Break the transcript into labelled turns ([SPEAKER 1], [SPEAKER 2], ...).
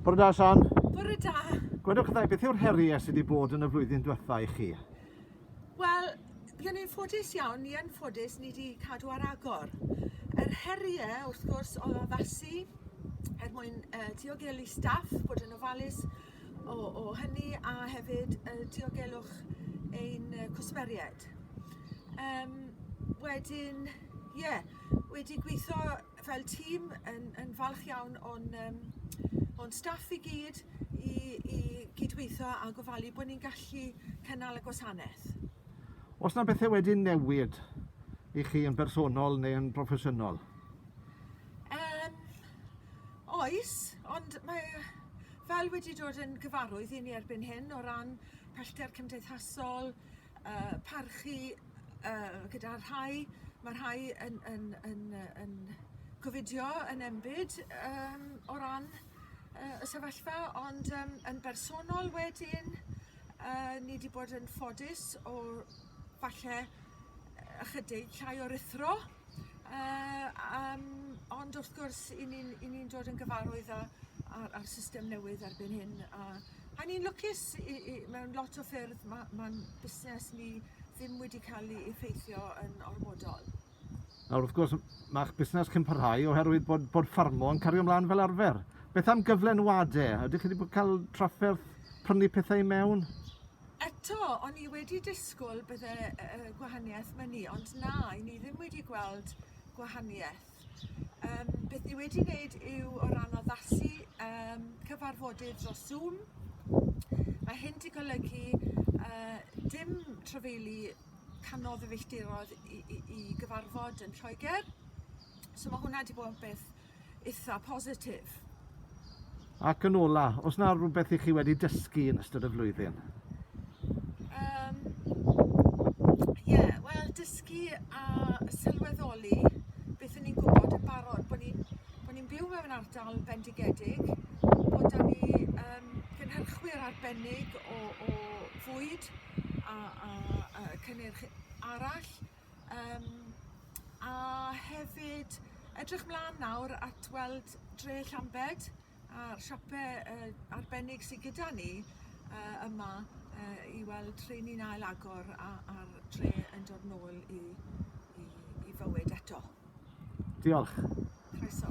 [SPEAKER 1] Bore da, San. Bore da.
[SPEAKER 2] Gwedwch ddau, beth yw'r
[SPEAKER 1] heriau sydd wedi bod yn y flwyddyn diwetha i chi? Wel,
[SPEAKER 2] byddwn ni'n ffodus iawn, ni yn ffodus, ni wedi cadw ar agor. Yr heriau, wrth gwrs, o addasu er mwyn uh, diogelu staff, bod yn ofalus o, o hynny, a hefyd uh, diogelwch ein uh, cwsmeriaid. Um, wedyn, ie, yeah, wedi gweithio fel tîm yn yn falch iawn o'n yym o'n staff i gyd i i gydweitho a gofalu bo' ni'n gallu cynnal y gwasaneth. O's 'na
[SPEAKER 1] bethe wedi newid i chi yn bersonol neu yn broffesiynol? Yym
[SPEAKER 2] oes ond mae fel wedi dod yn gyfarwydd i ni erbyn hyn o ran pellter cymdeithasol yy parchu yy gyda rhai ma' rhai yn yn yn yy yn covidio yn enbyd yym o ran yy y sefyllfa ond yym yn bersonol wedyn yy ni 'di bod yn ffodus o falle ychydig llai o ruthro yy yym ond wrth gwrs 'yn ni'n 'yn ni'n dod yn gyfarwydd â â'r â'r system newydd erbyn hyn a A ni'n lwcus i i mewn lot o ffyrdd ma' ma'n busnes ni ddim wedi ca'l 'i effeithio yn ormodol. Nawr wrth
[SPEAKER 1] gwrs ma'ch busnes chi'n parhau oherwydd bod bod ffarmo yn cario mlan fel arfer. Beth am gyflenwade? Ydych chi wedi bod cael trafferth prynu pethau i mewn? Eto,
[SPEAKER 2] o'n i wedi disgwl bydde yy gwahanieth myn' i ond na, 'yn ni ddim wedi gweld gwahanieth. Yym beth ni wedi wneud yw o ran addasu yym cyfarfodydd dros Zoom. Mae hyn 'di golygu yy dim trafeilu canodd y filltirodd i, i, i gyfarfod yn Lloegr. So mae hwnna 'di bod yn beth eitha positif.
[SPEAKER 1] Ac yn ola, oes 'na rywbeth i chi wedi dysgu yn ystod y flwyddyn? Yym,
[SPEAKER 2] ie, wel dysgu a sylweddoli beth o'n i'n gwbod yn barod, bo' ni'n bo' ni'n byw mewn ardal bendigedig, bo' 'da ni yym gynhyrchwyr arbennig o o fwyd a a yy cynnyrch arall, Yym a hefyd edrych mlan nawr at weld dre Llambed a'r siope yy arbennig sy gyda ni yy yma yy i weld rheiny'n ail agor a a'r dre yn dod nôl i i i fywyd eto. Diolch. Croeso.